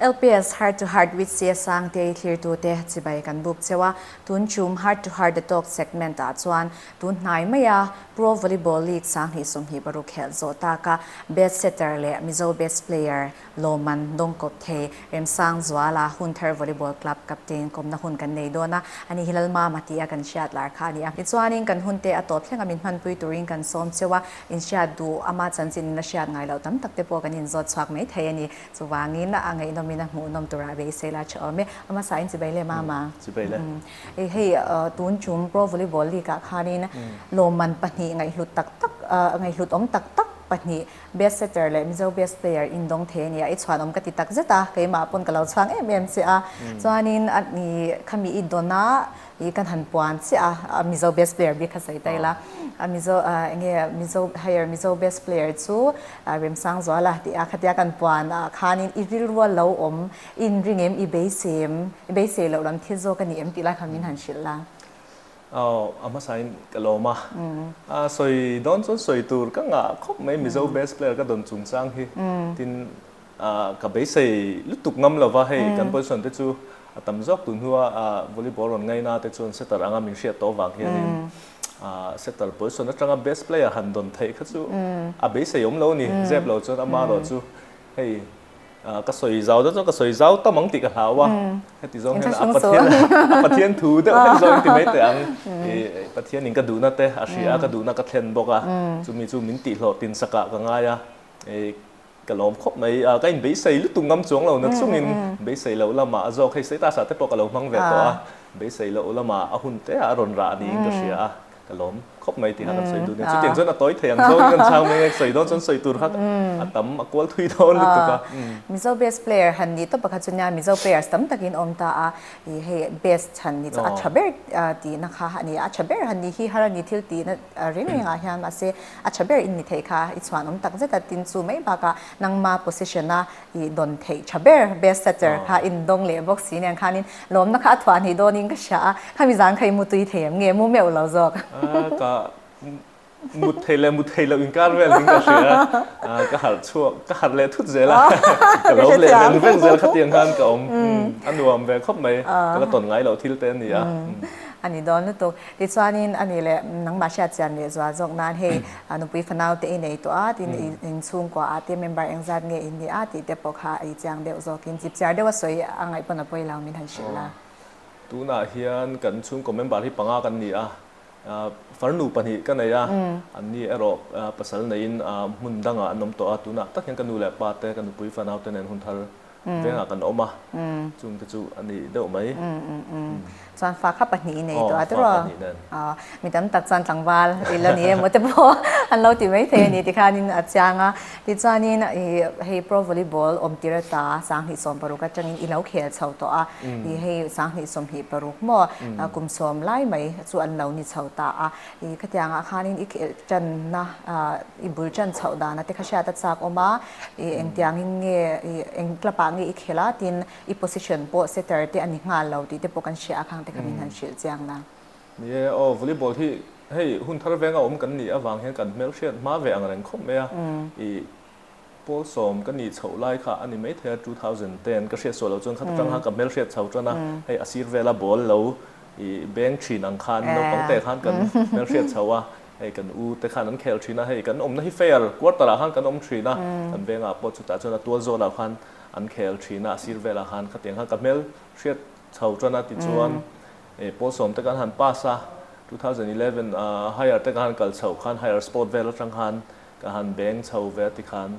LPS Heart to Heart with Sia Sang te thlirtute chibai kan buk cheu a, tun chum Heart to Heart The Talk segment ah chuan tun hnai mai a Pro Volleyball League sang hnih sawmhnih paruk khelh zawh tak a Best Setter leh Mizo Best Player Lawman Dawngkawpthei Remsangzuala Hun Thar Volleyball Club Captain kawmna hun kan nei dawn a, a nih hi Lalmama tia kan hriat lar kha a ni a, tichuanin kan hun te a tawp thlenga min hmanpui turin kan sawm cheu a, inhriat duh ama chanchin in la hriat ngailo tam tak te pawh kan inzawt chhuak mai thei a ni. Chuvangin a ngeihnawmin a hmuhnawm turah beiseil a chhawm e. A hmasa in chibai leh mama. Chibai le. I hei tun chum Pro Volleyball League ah khanin lawmman pahnih ngaihhlut tak tak, ngaihhlut awm tak tak pahnih best setter leh Mizo best player in dawng thei a ni a. I chhuanawm ka ti takzet a, keimah pawn ka lo chhuang em em che a. Chuanin khami i dawn a, Hi kan han puan chiah a, a Mizo Bass Player bik kha sawi ta ila, a Mizo ah enge Mizo hire Mizo Bass Player chu Remsang Zual a tih a, khatia kan puan ah khanin i rilrual lo awm, i inring em, i beisei em, i beisei loh lam thil zawk a ni em tih lai kha min han hrilh la. Aw, a hmasain ka lawm a, a sawi dawn chuan sawi tur ka ngah khawp mai Mizo Bass Player ka dawn chung chang hi, tin Ka beisei lutuk ngam lo va, hei kan position te chu a tam zawk tun hnu a, volleyball rawn ngaina te chuan setter anga min hriat tawh vang hianin setter position atanga best player han dawn theih kha chu a beisei awm lo a ni. Zep lo chuan ama erawh chu hei ka sawi zau zawk zawk, ka sawi zau tam ang tih ka hlau a, heti zawng hian a Pathian a Pathian thu deuh hlek zawng a inti mai teh ang. Pathianin ka duhna te a hria, ka duhna ka thlen bawk a, chumi chu min tihhlawh tinsakah ka ngai a. Ka lawm khawp mai, a ka inbeihsei lutuk ngam chuang lo na chungin beisei loh lamah a zawk hei status-ah te pawh ka lo hmang ve tawh a, beisei loh lamah a hun te ah a rawn rah a niin ka hria a, ka lawm khawp mai tih kha kan sawi dun nia. Chutiang chuan a tawi thei ang zawngin kan chhang mai nge, sawi dawn chuan sawi tur kha a tam a kual thui dawn lutuk a. Mizo bass player han ni tawp pakhat chu nia, Mizo players tam takin awm ta a, ih hei bass chhan ni chu a tha ber tihna kha a ni a, a tha ber han ni hi har a ni thil tihna reng rengah hian mahse A tha ber in ni theih kha i chhuanawm tak zet a tin chu mai bak a nangma position a i dawn theih tha ber best setter kha in dawng leh bawk si nen khan in lawmna kha a thuah hnih dawn in ka hria a khami zan kha i mu tui thei em nge mu meuh lo zawk. Ka mut thei leh mut thei loh in kar vel ding ka hria a ka harh chhuak ka harh leh thut zel a ka lawm leh veng veng zel kha tiang khan ka awm a nuam ve khawp mai ka la tawn ngai loh thil te a ni a. A ni dawn lutuk. Tichuanin a nih leh, nangmah hriat chian leh zual zawk nan hei nupui fanau te i nei tawh a, tin in chhungkua ah te member eng zat nge in nih a tih te pawh kha i chiang deuh zawk in zip chiar deuh a sawi a ngaih pawn a pawi lo min han hrilh la. Tunah hian kan chhungkaw member hi panga kan ni a, farnu pahnih ka nei a, an ni erawh pasal neiin hmun dangah an awm tawh a, tunah tak hian ka nu leh pa te ka nupui fanau te nen hun thar vengah kan awm a, chung te chu a nih deuh mai. Chuan fa kha pahnih i nei tawh a, tiraw? Aw, mi tam tak chuan tlangval i la ni emaw te pawh an lo ti mai thei a ni ti khanin a chiang a. Tichuanin i hei pro volleyball awm tir ata sanghnih sawm paruk atangin i lo khel chho tawh a, i hei sanghnih sawmhnih paruk maw, kum sawm lai mai chu an lo ni chho ta a. I khatiangah khanin i khelh tanna, i bul tan chhoh dana te kha hriat a chak awm a, i engtiangin nge, i eng club ah nge i khelh a, tin i position pawh setter te a ni nghal lo tih te pawh kan hria a, khang te kha min han hrilh chiang na. Ni e, aw, volleyball hi hei hun thar venga awm kan nih avang hian kan hmelhriat hma ve ang reng khawp mai a, i Paul sawm ka nih chhoh lai kha ani maithei a two thousand ten ka hriat suah loh chuan khat atanga ka hmel hriat chho tan a hei a sir vela ball lo i beng thin ang khan naupang te khan kan hmel hriat chho a hei kan u te khan an khel thin a hei kan awmna hi fair quarter ah khan kan awm thin a kan beng ah pawh chutah chuan a tual zawh lah khan an khel thin a a sir velah khan khatiang khan ka hmel hriat chho tan a tichuan hei Paul sawm te kan han pass a two thousand eleven ah higher te kan han kal chhoh khan higher sport vel atang khan Ka han beng chho ve a ti khan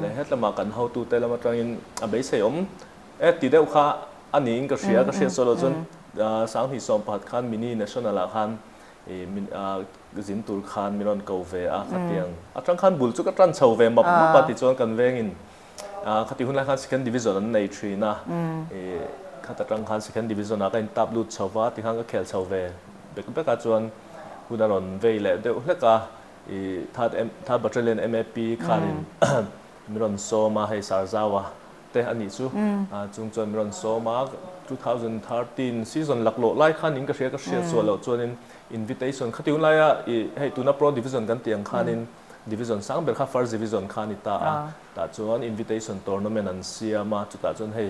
leh hetlama kan hotu te lam atangin a beisei awm e ti deuh kha a niin ka hria. Ka hriat sawi lo chuan sang hnih sawm pakhat khan mini national ah khan zin tur khan min rawn ko ve a khatiang atang khan bul chu ka tan chho ve map map a ti chuan kan vengin khati hun lai khan second division an nei thin a khat atang khan second division ah ka in tap lut chho va ti khan ka khel chho ve bek bek a chuan hun a rawn vei leh deuh hlek a. I that em that battalion map khan in min rawn sawm a hei sar zau a te anih chu a chung chuan min rawn sawm a two thousand thirteen season lak loh lai khan in ka hria ka hria chhuah loh chuan in invitation khati hun lai a i hei tuna pro division kan tih ang khan in division sang ber kha first division khan i ta a tah chuan invitation tournament an siam a chutah chuan hei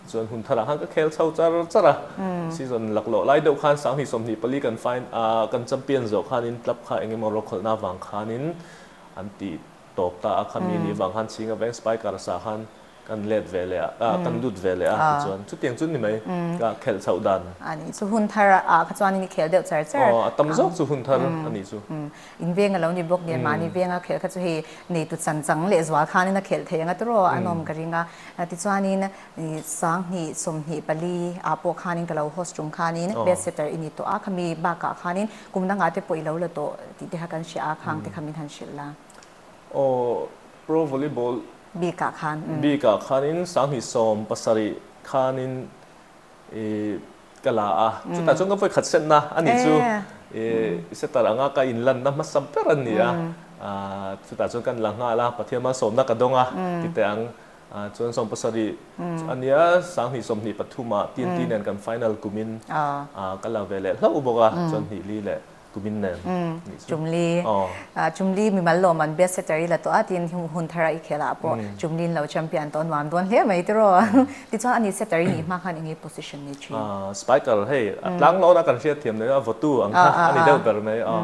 Chuan hun tharah khan ka khel chho char char a, season lak lawh lai deuh khan sang hnih sawm hnih pali kan final aah kan champion zawh khanin club kha eng emaw rawlkhawlhna vang khanin an ti tawp ta a, khami nih vang khan chhinga veng spy kar sa khan kan let ve leh a aah kan lut ve leh a tichuan chutiang chu ni mai ka khelh chhoh dan. A nih chu hun tharah kha chuan i ni khel deuh char char. Aw a tam zawk chu hun thar a nih chu. In veng a lo ni bawk nen mahni veng a khelh kha chu hei neitu chan chang leh zual khan in a khelh thei ang a tur aw an awm ka ring a tichuan in sang hnih sawm hnih pali ah pawh khan in ka lo host tum khan in bed setter i ni tawh a khami bak ah khan in kum na nga te pawh i lo la tawh tih te kha kan hria a khang te kha min han hrilh la aw pro volleyball bik ah khan bik ah khan in sang hnih sawm pasarih khan in i ka la a, chutah chuan ka vawikhat setna a ni chu i setter anga ka inlanna hmasam ber a ni a, chutah chuan kan la nghal a, Pathian man sawmna ka dawng a tite ang, chuan sawm pasarih chu a nia sang hnih sawm hnih pathumah TNT nen kan final kumin ka la ve leh hlo bawk a, chuan hnih li leh tumin nen ni chu. Chumli, ah Chumli mimal lawm an best setter i la tawh a tiin hun thar a i khel ah pawh Chumli in lo champion tawh a nuam dawn hle mai te rawh. Tichuan a ni setter i nih hma khan enge position ni thin? Ah spiker hei a tlang lawh na kan hriat thiam daih a votu ang kha a ni deuh ber mai a.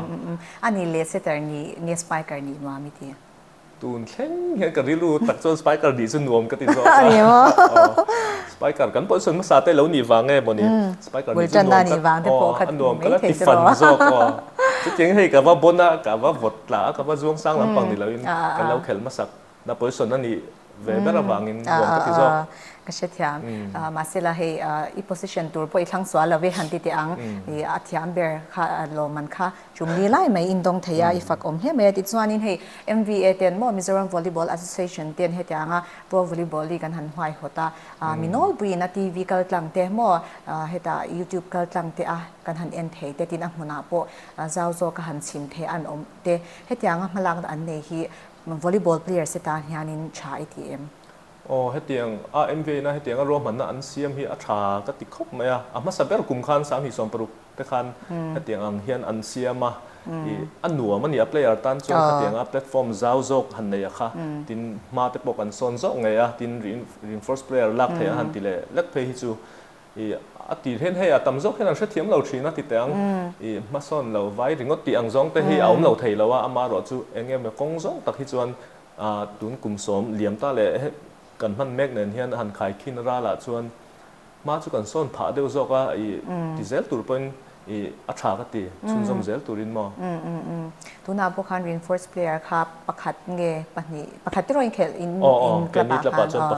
A ni le setter ni nge spiker ni nuam i ti? Tun thleng hian ka rilru tak chuan spiker dih chu nuam ka ti zawk a. A ni maw? Aw. Spiker kan pawh sawn hmasa te lo nih vang nge maw ni? Spiker dih chu nuam ka. Bultan a nih vang te pawh kha nuam ka la ti fan zawk aw. Chutiang hei ka va bawn a, ka va vawt tla a, ka va zuang sang lampang ni loin kan lo khelh hmasak. Na pawisawn a nih ve ber avangin nuam ka ti zawk. Ka hre thiam. Mahse la hei i position tur pawh i thlangsual lo ve han ti teh ang. I a thiam ber kha lawmman kha. Tum ni lai mai in dawng thei a, i fak awm hle mai a. Tichuanin hei MVA ten maw Mizoram Volleyball Association ten hetianga Pro Volleyball League an han huaihawt a, mi nawlpuiin a TV kal tlang te maw heta YouTube kal tlang te a kan han en thei te tin a hmunah pawh zau zawk a han chhim thei an awm te. Hetianga hmalakna an nei hi volleyball players te tan hianin tha i ti em? Aw, hetiang a MVA-na hetianga ruahmanna an siam hi a tha ka ti khawp mai a, a hmasa ber kum khan Sanghlisawm paruk te khan hetiang ang hian an siam a, ih a nuam a ni a player tan chuan khatiang a platform zau zawk han nei a kha tin hma te pawh kan sawn zawk ngei a tin reinforce player lak theih a han ti leh lek phei hi chu ih a ti hle hle a tam zawk hian an hrethiam lo thin a ti teh ang ih hma sawn lo vai ringawt tih ang zawng te hi a awm lo thei lo a ama erawh chu eng nge maw kawng zawng tak hi chuan ah tun kum sawm liam ta leh kan hman mek nen hian han khai khin ral ah chuan Hma chu kan sawn phah deuh zawk a, i ti zel tur pawhin i a tha ka ti, chhunzawm zel turin maw? Tunah pawh khan reinforced player kha pakhat nge pahnih, pakhat tiraw inkhelh in club ah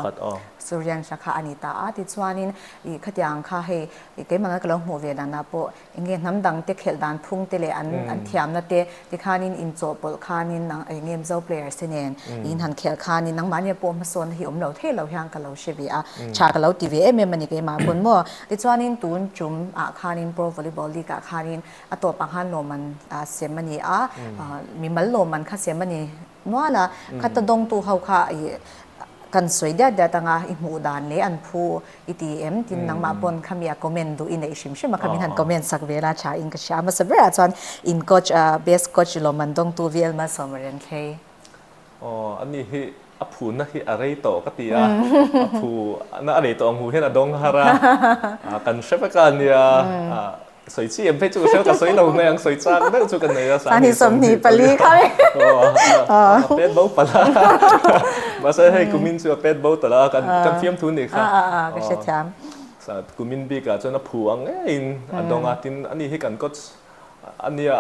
khan aw, Suryansh a kha a ni ta a, tichuanin i khatiang kha hei keimah ngai ka lo hmuh ve dan ah pawh, Eng nge hnam dangte khelh dan phungte leh an an thiamna te tikhanin inchawh pawlh khanin nang eng nge Mizo players te nen in han khelh khanin nangmahnia pawh hmasawnna hi awm lo thei lo hian ka lo hre ve a, tha ka lo ti ve em em a ni keimah pawn maw. Tichuanin tun tum ah khanin Pro Volleyball League ah khanin a tawpah khan lawmman a sem a ni a, mimal lawmman kha sem a ni. Muala khata dawngtu ho kha i kan sawi diat diat anga i hmuh dan leh an phu i ti em? Tin nangmah pawn khami a comment duh i neih hrim hrim a, khami han comment sak vel a, tha in ka hria. Hmasa berah chuan in coach a best coach lawm an dawngtu vel Malsawma Renthlei. Aw, ani hi a phuna hi a rei tawh ka ti a, a phu na a rei tawh ang hu hian a dawng har a, kan hre vek a nia. Sawi chi em phei chu ka sawi ka sawi lo mai ang sawi chak deuh chu ka nei a sahni sawmhnih pali kha a pet bo palh a mahse hei kumin chu a pet bo tawh la kan fiam thu nih kha ka hre thiam kumin bik ah chuan a phu ang ngei in a dawng a tin ani hi kan coach ania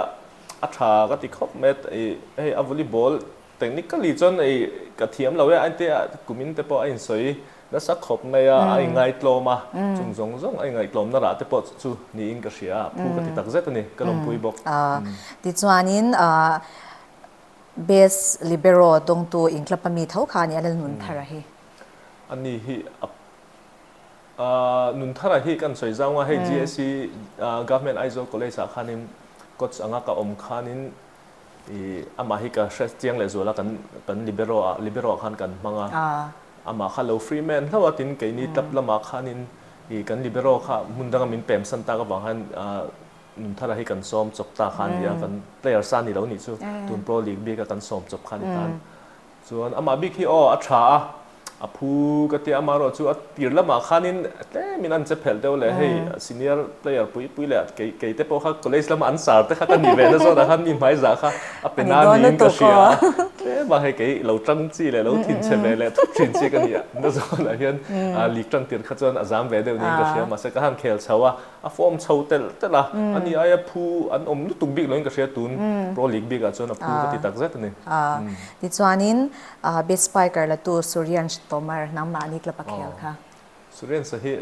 a tha ka ti khawp mai a hei avuli ball Technically chuan ei ka thiam lo e, ante a kumin te pawh a insawi nasa khawp mai a, a inngaitlawm a, chung zawng zawng a inngaitlawmna rah te pawh chu chu niin ka hria a, phu ka ti takzet a ni, ka lawmpui bawk. Tichuanin Base Libero tawngtu inklapa mi tho kha a ni a, Lal Nunthara hi. A ni hi a, Nunthara hi kan sawi zau nga hei GSC Government Aizawl College-ah khanin coach anga ka awm khanin, I, amah hi ka hre chiang leh zual a, kan kan libero-a, libero-ah khan kan hmang a, amah kha lo free man hlauh a, tin kei ni tap lamah khanin i kan libero kha hmun danga min pemsan tak avang hian a nun thara hi kan sawm chawp ta kha a ni a, kan players a ni lo nih chu, tun pro league bik a kan sawm chawp kha a ni tan. Chuan amah bik hi aw a tha a, a phu ka tia amah erawh chu a tir lamah khanin tlemin an che phelh deuh leh hei senior player pui pui leh kei kei te pawh kha college lama an sar te kha ka ni ve na zawnah khan mi hmaizah kha a pe na niin ka hria a, tlem a hei kei lo tang chi leh lo thin che ve leh thut thin chi ka ni na zawnah hian lik tang tir kha chuan a zam ve deuh niin ka hria mahse ka han khel chho a. A form chho tel tel a, ani ai a phu an awm lutuk bik loin ka hria tun pro league bik ah chuan a phu ka ti tak zet ani. Tichuanin best spiker la tu Suryansh Tomar nangmah ani club a khel kha. Suryansh hi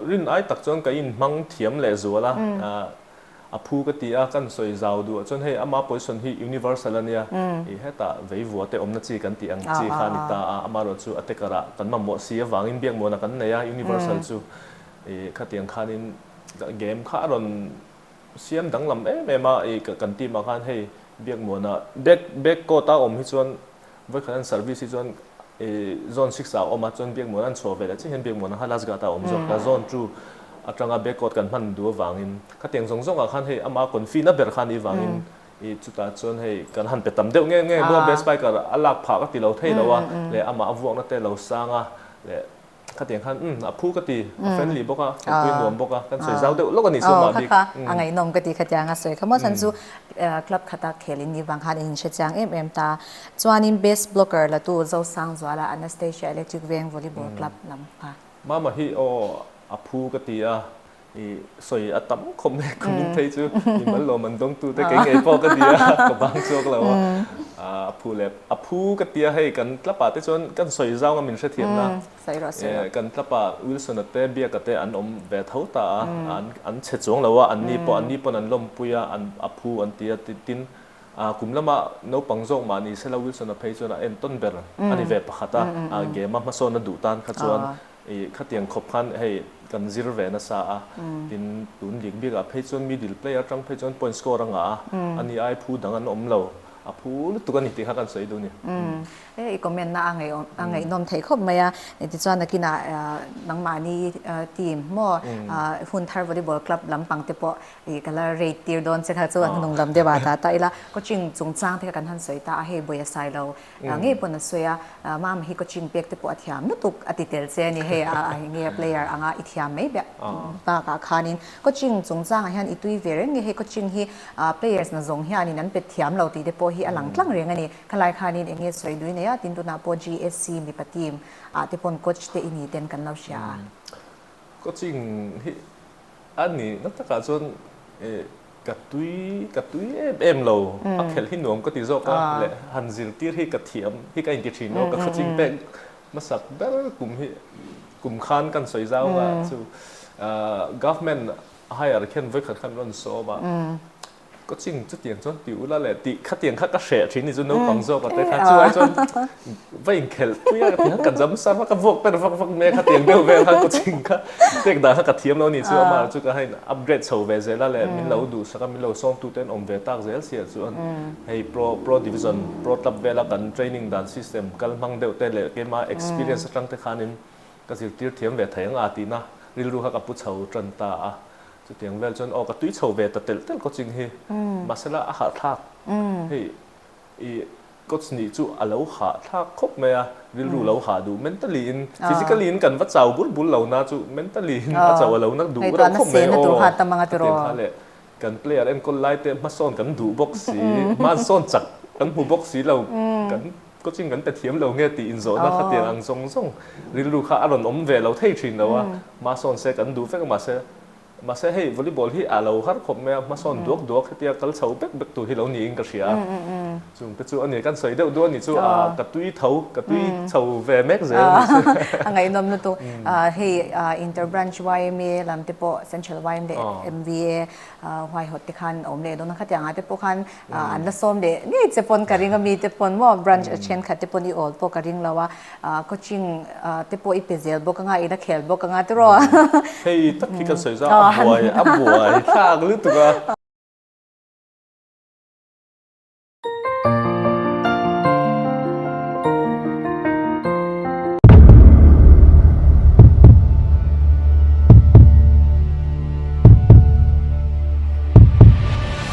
rin ai tak chuan ka in hmang thiam leh zual a. A phu ka ti a, kan sawi zau duh ah chuan hei ama poison hi universal a nia, ih hetah veivua te awmna chi kan tih ang chi kha a ni ta a, ama erawh chu a taker ah kan mamawh si avangin biak muana kan nei a, universal chu ih khatiang khanin game kha a rawn siam danglam em em a, ih kan team ah khan hei biak muana back back court a awm hi chuan Vawikhat an service hi chuan zone six ah a awm a, chuan biakmuan an chhuah veleh chiahin biakmuan ang kha last guard ah a awm zawk a, zone two atanga backward kan hman duh avangin kha teng zawng zawng ah khan hei ama konfi na ber kha nih vangin chutah chuan hei kan han pe tam deuh ngei ngei bawk a, best buy kar a lak phah ka ti lo thei lo a leh amah a vuakna te lo sang a leh. Khatiang khan umm a phu ka ti, a friendly bawk a, kan pui nuam bawk a, kan sawi zau deuh lawk a ni chu amah bik. Aw kha kha, a ngaihnawm ka ti khatiang a sawi kha maw, chan chu club khata khelin ni vang khan in hre chiang em em ta. Chuanin best blogger latu Zosangzuala Anastasia Electric Veng Volleyball Club lam kha. Mama hi aw a phu ka ti a, I sawi a tam khawp mai ka hmu phei chu i mal lawm an dawng tu te keng ngei pawh ka nia ka bang chhuak lo a a phu leh a phu ka tia hei kan tla pa te chuan kan sawi zau nga min hre thiam na kan tla pa wilson a te biak a te an awm ve tho ta a an an chhe chuang lo a an ni pawh an ni pawn an lawm pui a an a phu an tia tin a kum lama naupang zawk mah ni se la wilson a phei chuan a en tawn ber a ni ve pakhat a a game a hmasawn a duh tan kha chuan I khatiang khawp khan hei kan zir ve nasa a, tin tun bik bik ah phei chuan middle player atang phei chuan point score a ngah a, a nih ai phu dang an awm lo, a phu lutuk a ni tih kha kan sawi dun ni. He i comment na a ngaihawm a ngaihnawm thei khawp mai a, tichuan a kinah Nangmahni team maw Hun Thar Volleyball Club lampang te pawh i ka la raid tir dawn che kha chuan hnung lam deuh ah ta ta ila coaching chungchang te kha kan han sawi ta a, hei buaia sailo Ngei pawn a sawi a, Mama hi coaching pek te pawh a thiam lutuk a ti tel che a ni. Hei a enge a player anga i thiam mai beh bakah khanin coaching chung changah hian i tui ve reng nge hei coaching hi players na zawng hianin an pet thiam lo tih te pawh hi a lang tlang reng a ni. Khalai khanin enge sawi dui nei a tin tunah pawh GSC mipa team ah te pawn coach te i ni ten kan lo hria a. Coaching hi a ni na takah chuan e. Ka tui, ka tui em em lo, a khelh hi nuam ka ti zawk a, leh han zirtir hi ka thiam hi ka inti thin lo, ka khawching pek hmasak ber kum hi, kum khan kan sawi zau nga chu government hire khian vawikhat khan an rawn sawm a, coaching chutiang chuan ti ula leh tih khatiang kha ka hreh thin ni chu naupang zawk ate kha, chulai chuan Va inkhelh pui a, tiang ka jam sang va, ka vawk ber vak vak mai a, kha tiang deuh vel kha ka ching kha pek dan kha ka thiam lo ni chu amah erawh chu ka hain upgrade chho ve zel a leh min lo duhsak a, min lo sawm tu ten awm ve tak zel si ah chuan hei pro pro division pro club vela kan training dan system kal hmang deuh te leh kei mah experience atang te khan in ka zirtir thiam ve thei ang a tih na rilru kha ka pu chho tan ta a, chu tiang vel chuan aw ka tui chho ve ta telh telh ka ching hi mahsela a harhthlak hei i Coach nih chu a lo hah thlak khawp mai a, rilru lo hah duh mentally in, physically in kan va chau bul bul lo na chu mentally in a chau a lo na duh reuh khawp mai aw, khatiang kha leh kan player enkawl lai te hmasawn kan duh bawk si, hmasawn chak kan hmu bawk si lo, kan coaching kan pe thiam lo nge tih inzawhna khatiang ang zawng zawng rilru kha a rawn awm ve lo thei thin lo a, hmasawn se kan duh vek a mahse, Mahse hei volleyball hi a lo har khawp mai a, hmasawn duak duak hetia kal chho bek bek tur hi lo niin ka hria a. Chung te chu a ni, kan sawi deuh duh a ni chu, ka tui tho, ka tui chho ve mek zel a ni chu. A ngaihnawm lutu. Hei inter branch yma lam te pawh, central yma leh MVA, Huaihawtte khan a awm leh dawn a, khatianga te pawh khan Ahh an la sawm leh ngei che pawn ka ring a, mite pawn maw branch a thenkhat te pawn i awl pawh ka ring lo a, ahh coaching ahh te pawh i pe zel bawk anga, ila khel bawk anga te rawh. Hei tak hi kan sawi zau a, a buai a buai thlak lutuk a.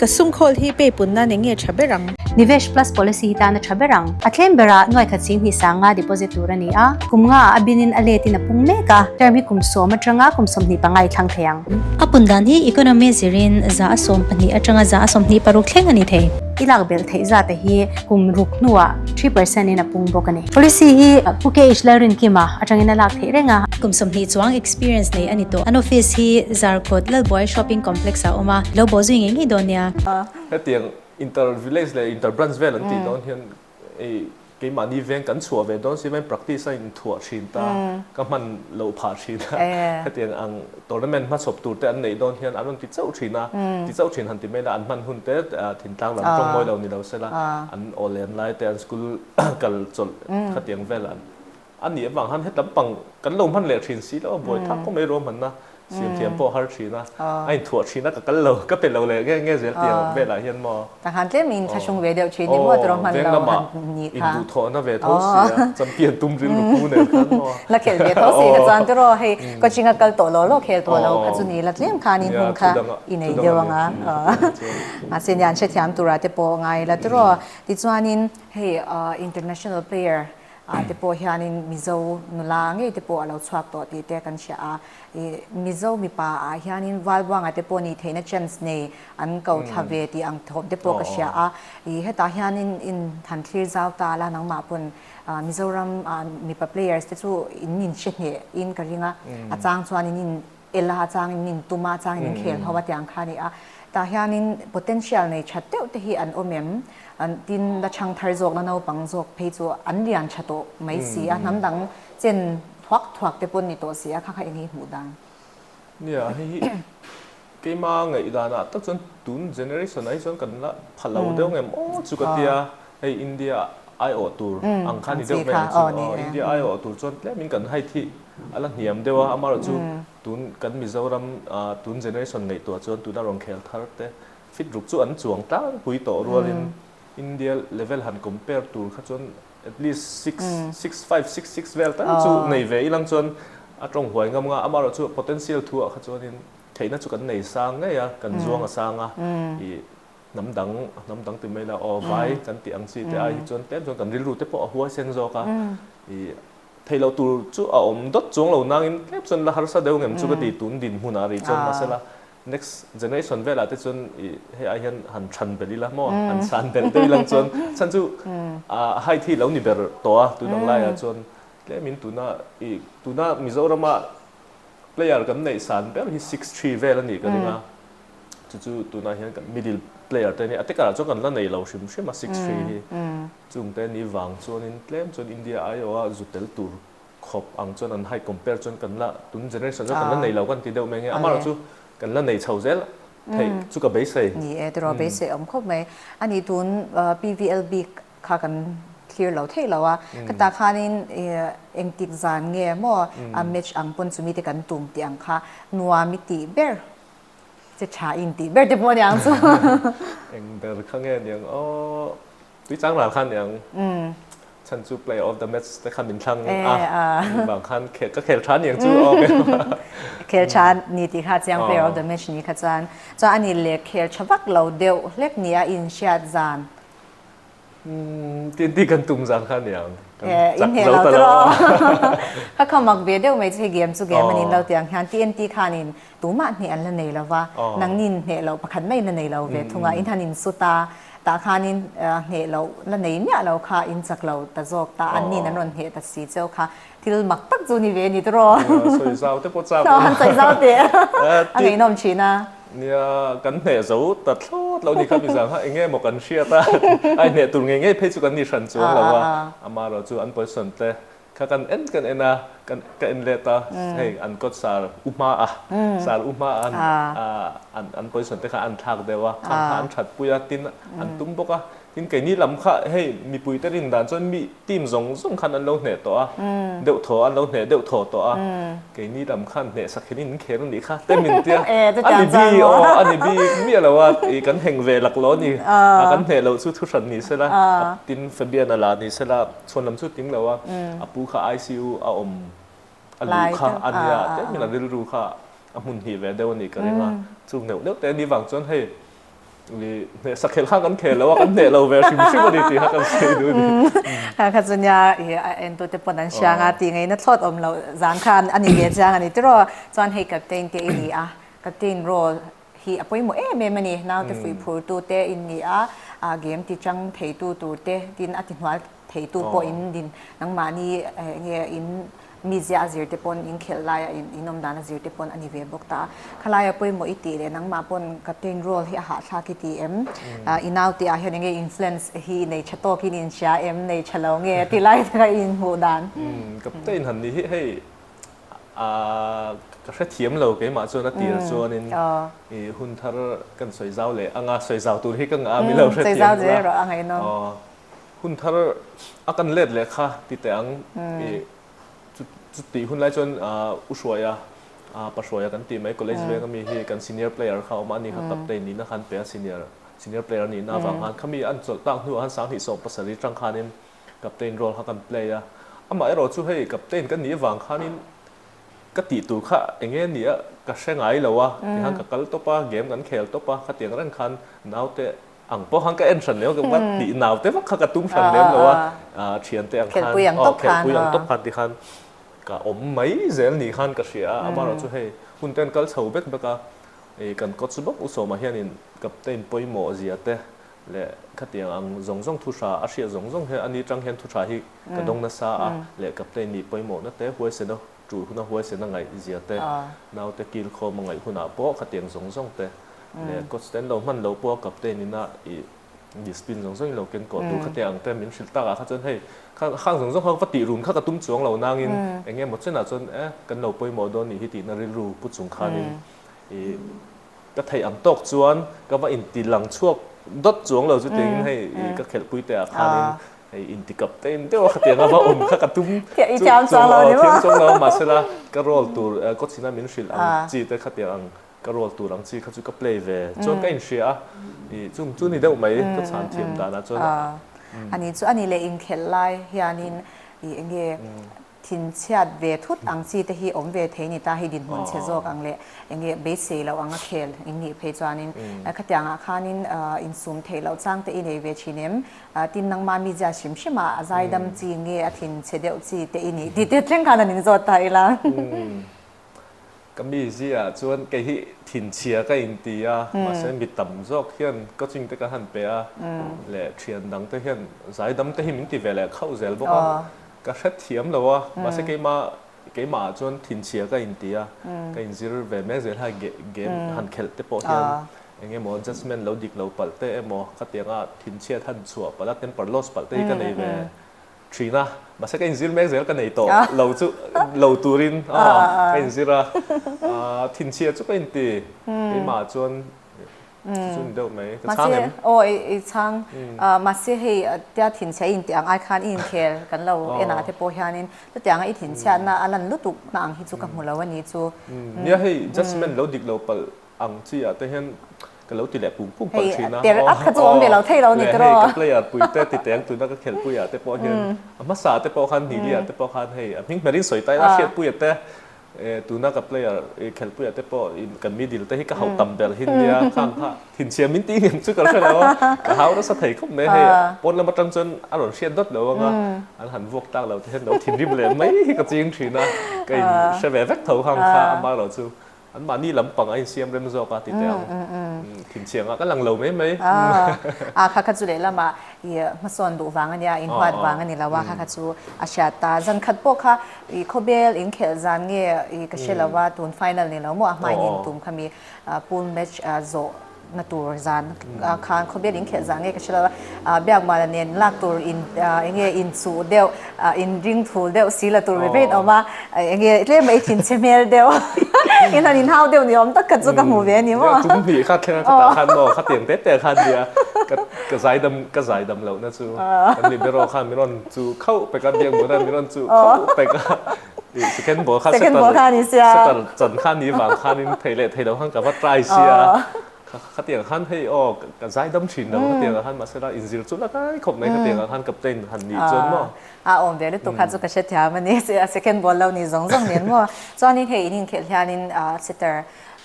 Ka sungkhawl hi pay pun nan enge tha ber ang? Nivesh Plus Policy hi tan a tha ber ang. A claim ber ah nuaikhat sin hnih sang nga deposit tur a ni a. Kum nga ah a bin in a let in a pung mek a. Term hi kum sawm atanga kum sawmhnih panga i thlang thei ang. A pundan hi economy zir in za a sawm pahnih atanga za a sawmhnih paruk thleng a ni thei. I lak belh theih zat a hi. Kum ruk hnuah three percent in a pung bawk a ni. Policy hi Pu KH Lalrinkima atangin a lak theih reng a. Kum sawmhnih chuang experience nei a ni tawh. An office hi Zarkut Lalbuai Shopping Complex ah a awm a. Lo bawh zui ngei ngei dawn nia. Hetiang inter village leh inter branch vel an tih dawn hian keimahni veng kan chhuah ve dawn si main practice a inthuah thin ta ka hman loh phah thin a. Hetiang ang Tournament hma chhawp tur te an neih dawn hian an rawn ti chauh thin a, ti chauh thin han ti mai la, an hman hun te Thintlang lam tawng mawi lo ni lo se la, an aw len lai te, an school kal chawlh khatiang vel an a nih avang han hetlam pang kan lo hman leh thin si lo a, buai thak khawp mai rual hmanna siam thiam pawh a har thin a, a inthuah thin a ka kal lo, ka pe lo leh nge nge zel tiang vel ah hian maw? Ka han tlem in thla hung ve deuh thin i maw tawrh hman lo han nih kha. In duh thawh na ve tho si a, champion tum ril nu pu nen khan maw. La khelh ve tho si kha chuan tiraw hei coaching a kal tawh lo lo khel tawh lo kha chu ni la tlem khan in hmun kha i nei deuh ang a. Mahse nia an hrethiam tur ah te pawh a ngai ila tiraw. Tichuan in hei international player ah te pawh hian in Mizo nula ngei te pawh a lo chhuak tawh tih te kan hria a. I Mizo mipa ah hian in Valbuanga te pawh nih theihna chance nei An ko thla ve tih ang thawp te pawh ka hria a, ih hetah hianin in han thlir zau ta la nangmah pawn Mizoram mipa players te chu in min hre hneh in ka ring a, a chang chuan in in el a, a chang in min tum a, a chang in in khel ho a tiang kha a ni a, tah hianin potential nei that deuh te hi an awm em? tin la chhang thar zawk na naupang zawk phei chu an lian tha tawh mai si a, hnam dang chen thuak thuak te pawn ni tawh si a, kha kha eng nge i hmuh dan? Nia, hei hi Keima ngaih danah tak chuan tun generation ahi chuan kan la pha lo deuh nge maw chu ka tia hei India aiawh tur ang kha ni deuh hmel ang chu aw India aiawh tur chuan tlem in kan high thih a la hniam deuh a amarawh chu tun kan Mizoram tun generation ngaihtuah chuan tuna rawn khel thar te fit ruk chu an chuang tlangpui tawh rualin India level han compare tur kha chuan At least six, six, five, six, six vel tan chu nei ve ilang chuan a tawng huai ngam nga. Amaherawh chu potential thu ah kha chuanin theihna chu kan nei sang ngei a, kan zuang a sang a. I hnam dang, a hnam dang ti mai ila, aw vai kan tih ang chi te ai hi chuan tlem chuan kan rilru te pawh a huai sen zawk a. I theih loh tur chu a awm dawt chuang lo nangin tlem chuan la harsa deuh ngem chu ka ti tun dinhmun ah a ri chuan mahsela Next generation velah te chuan i hei ai hian han chhan belh ila maw han chhan belh deuh ilang chuan chhan chu a height hi lo ni ber tawh a tun ang laia chuan tlemin tuna i tuna Mizorama player kan neih san ber hi six three vel a nih ka ring a chu chu tunah hian kan middle player te nia a tekar ah chuan kan la nei lo hrim hrim a six three hi chungte ni vang chuanin tlem chuan India aio a zu tel tur khawp ang chuan an height compare chuan kan la tun generation zawk kan la nei lo kan ti deuh mai ang e, amaherawh chu kan la nei chho zel theih chu ka beisei. Ni e, tiraw beisei a awm khawp mai, a nih tun PVL bik kha kan thlir lo theih lo a, khata khanin engtik zan nge maw a match ang pawn chu mite kan tum tih ang kha nuam i tih ber che tha in tih ber te pawh a ni ang chu. Eng ber kha nge ni ang aw. Tui chang ral khan eng chhan chu player of the match te khan min thlang a, mi bang khan khel ka khel tha ni ang chu awm em a. Khel tha ni tih kha chiang player of the match ni kha chuan chuan a nih leh khel tha vak lo deuh hlek ni a inhriat zan. Tnt kan tum zan khan ni ang. Inhne lo tawh. Kha kha mak ve deuh mai chu hei game chu game a ni lo tih ang hian tnt khanin. tumah hneh an la nei lo va, nangin hneh loh pakhat mai la nei lo ve thung a, in han in sut a, tah khanin hneh loh la nei miah lo kha in chak lo ta zawk ta, an nin an rawn hneh ta si cheu kha, thil mak tak chu ni ve a ni ta raw. Nia, sawi zau te pawh chak lo. An sawi zau teh a ngeihnawm thin a. Nia, kan hneh zo ta thlawt lo ni kha mi zang kha eng nge maw kan hriat a, ai hneh tur ngei ngei phei chu kan ni hran chuang lo a, amah erawh chu an pawisa an tle. Kha kan en kan en a, kan ka en let a, hei an kawt sal u hma a, sal u hma a an an position te kha an thlak deuh a, khang kha an that pui a, tin an tum bawk a, tin keini lam kha hei mipui te rin dan chuan mi team zawng zawng khan an lo hneh tawh a, deuh thaw an lo hneh deuh thaw tawh a, keini lam khan hneh sak hian in kher a nih kha tem in tia, a ni bik aw a ni bik miah lo a, ih kan heng ve lak lo a ni, a kan hneh loh chu thu hran ni sela, tin Fabian a la ni sela. Chhawn lam chu ting lo a, a pu kha ICU a awm a luh kha a nia, tlem in a rilru kha a hmun hnih ve deuh a nih ka ring a, chu hneuh hneuh te ni vang chuan hei hneh sakhelh khan kan khel lo a, kan hneh lo ve hrim hrim a ni tih kha kan sawi duh a ni. Kha kha chu nia a entu te pawn an hriang a, tih ngaihna thlawt awm loh zan kha a ni ve chiang a ni tiraw, chuan hei captain te i ni a, captain rawh, Hi a pawimawh em em a ni, naute fuih phurtu te in ni a, a gem ti chang theitu tur te, tin a tihnual theitu pawh in din. Nangmahni enge in mi ziah zir te pawn in khelh lai a, in awm dan a zir te pawn a ni ve bawk ta. Khalai a pawimawh i tih leh nangmah pawn captain role hi a hahthlak i ti em? I naute ah hian enge influence hi i nei tha tawk in in sia em? Nei tha lo nge? Tilai taka in hmuh dan. Captain han nih hi hei Ahh, ka hrethiam lo keimah chuan a tir chuanin i hun thar kan sawi zau leh anga sawi zau tur hi ka ngah a mi lo hrethiam bula. Sawi zau zel erawh a ngaih nawm. Aww, hun thar a kan let leh kha tite ang i chu chutih hunlai chuan u hruaia pa hruaia kan tih mai college veng ami hi kan senior player kha a awm a ani kha captain nihna khan peng a senior senior player nihna avang khan khami an chawlh tak hnuah khan sanghnih sawm pasarih tang khanin Captain role kha kan play a, amaherawh chu hei captain kan nih avang khanin ka tih tur kha enge nia ka hre ngai lo a, tihan ka kal tawp a, game kan khel tawp a, khatiang reng khan naute ang pawh khan ka en hran lem a, tih naute vak kha ka tum hran lem lo a, thiante ang khan, khelpui ang tawp khan, khelpui ang tawp khan te khan ka awm mai zel ni khan ka hria a, amaherawh chu hei hunte an kal chho vek vek a, kan coach bawk u Sawmah hianin captain pawimawh zia te, leh khatiang ang zawng zawng thuhra a hriat zawng zawng hian a ni tang hian thuhra hi ka dawng nasa a leh kaptein nih pawimawhna te huaisena tul huna huaisena ngaih zia te naute kilkhawm a ngaih hunah pawh khatiang zawng zawng te leh coach te an lo hman lo pawh a kaptein ina i discipline zawng zawngin lo ken kuah tur khatiang ang te min hrilh tak ah kha chuan hei kha khang zawng zawng kha va tih run kha ka tum chuang lo nangin eng nge maw chenah chuan eh kan lo pawimawh dawn nih hi tihna rilru pu chung khanin i ka theih ang tawk chuan ka va inti lang chhuak dawt chuang lo chutin hei i ka khelh pui te ah khanin hei inti kap tein deuh a kha tianga va awm kha ka tum chu thiam chuang lo ni maw thiam chuang lo mahsela ka roll tur ka chhina min hrilh ang chi te kha tiang ang ka roll tur ang chi kha chu ka play ve chuan ka inhria a i chung chu ni deuh mai ka chhan thiam dan ah chuan a ni chu a ni leh inkhelh lai hianin i enge thin chhiat ve thut ang chi te hi awm ve thei ni ta, hei dinhmun che zawk ang leh eng nge beisei loh anga khel in nih phei chuanin khatiang ah khanin in sum theih loh chang te i nei ve thin em? Tin nangma mi ziah hrim hrim ah a zaidam chi nge a thin che deuh chi te i nih tih te thleng khan an in zawt ta ila. Ka mi ziah chuan kei hi thinchhia ka inti a, mahse mi tam zawk hian coaching te ka han pe a, leh thian dang te hian zaidam te hi min ti ve leh khauh zel bawk a, ka hre thiam lo a, mahse keima keimah ah chuan thinchhia ka inti a, ka inzir ve mek zia hlai ge game han khelh te pawh hian eng emaw judgement lo dik lo palh te emaw khatianga thinchhiat han chhuah palh a, temper loss palh te hi ka nei ve. Thin a, mahse ka inzir mek zel ka nei tawh lo chu lo turin ka inzir a, thinchhia chu ka inti, keimah chuan chu chu ni deuh mai, ka chhang em? Mahse aw i chhang, mahse hei tia thinchhia i inti ang ai khan i inkhel kan lo en ah te pawh hianin chutianga i thinchhiahna a lan lutuk na ang hi chu ka hmu lo a ni chu. Nia hei judgement lo dik lo palh ang chiah te hian Ka lo ti leh pum pum pal thin a. Hei ter ak kha chu a awm ve lo thei lo ni tiraw. Leh hei ka player pui te ti teng tuna ka khelh puiah te pawh hian a hmasa te pawh khan hni diah te pawh khan hei a hming hmer in sawi ta ila hriat puiah te tuna ka player i khelh puiah te pawh kan middle te hi ka hauh tam ber hin nia khang kha thinchhiam min tih ngam chu ka hre lo a ka hau nasa thei khawp mai hei a pawn lam atang chuan a rawn hriat dawt lo ang a an han vuak tak lo te hian lo thinrim leh mai hi ka ching thin a ka in hre ve vek tho khang kha amah erawh chu Anmahni lam pang a insiam rem zawk a tite ang. Thin chiang ah ka lang lo mai mai. A kha kha chu lehlam ah i hmasawn duh vang a nia, in huat vang a ni lo a, kha kha chu a hriat ta. Zan khat pawh kha i khawbel in khelh zan nge i ka hre lo a, tun final ni lo maw a hmain in tum kha mi pool match zawh. na tur zan khan khawbel in khelh zan nge ka hre lo a biak mala nen lak tur in eng nge in chuh deuh in ring phul deuh si la tur ve ve in awm a eng nge tlem a i thin che hmel deuh in han in hau deuh ni awm tak khat chu ka hmu ve a ni maw tum hnih kha thleng a kha tah khan maw kha teng te te khan nia ka ka zai dam ka zai dam lohna chu kan ni beraw khan min rawn chu khauh pek a biak mala min rawn chu khauh pek a. Second ball kha Second ball khan in sia. Setter chan khan ni vang khan in thei leh thei lo khan ka va try sia. Khatiang khan hei aw ka zai dam thin lo khatiang ah khan mahse lai in zir chu la kai khawp mai khatiang ah khan captain han nih chuan maw. A awm ve lutuk kha chu ka hre thiam a ni. Second ball lo ni zawng zawng nen maw. Chuan in hei in inkhelh hian in setter.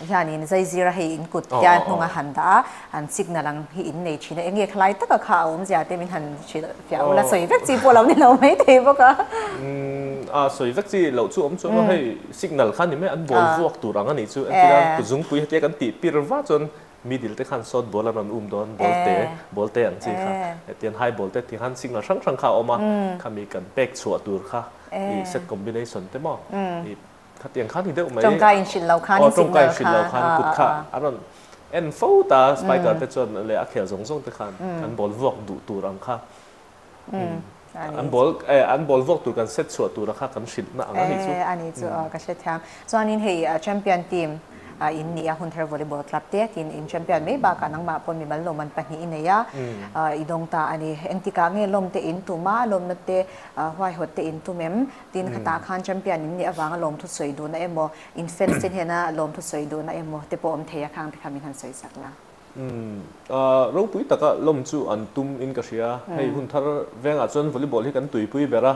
hianin zaizira hei in kut tia hnunga han dah a, an signal ang hi in nei thin a, eng nge kha lai taka kha a awm zia te min han hrilh fiah ula sawi vek chi pawh lo ni lo mai thei bawk a. Umm a sawi vek chi loh chu awm chuan maw hei signal kha ni mai an bawl vuak tur ang a nih chu entirang kut zungpui hetia kan tih pir vah chuan middle te khan sawt bawl an rawn um dawn bawl te bawl te ang chi kha hetian high bawl te tihan signal hrang hrang kha a awm a khami kan pek chhuah tur kha i set combination te maw i Khatiang khan ni deuh mai. Tawngkai in hrilh lo khan, signal khan. Aw, tawngkai in hrilh lo khan, kut kha a rawn en fo ta, spider te chuan leh a khel zawng zawng te khan an ball vuak duh tur ang kha, an ball, an ball vuak tur kan set chhuah tura kha kan hrilh na ang a nih chu. A nih chu, ka hre thiam. Chuanin hei champion team in nih a, Hunthar Volleyball Club te tiin in champion mai bakah nangmah pawh mimal lawm an pahnih i nei a, i dawng ta a ni. Engtikah nge lawmte in tum a, lawmna te huaihawtte in tum em? tin hetah khan champion in nih avanga lawmthu sawi duhna emaw in fans te hnena lawmthu sawi duhna emaw te pawh awm thei a khang te kha min han sawi chak la. Ropui taka lawm chu an tum in ka hria, hei hun thar vengah chuan volleyball hi kan tuipui ber a,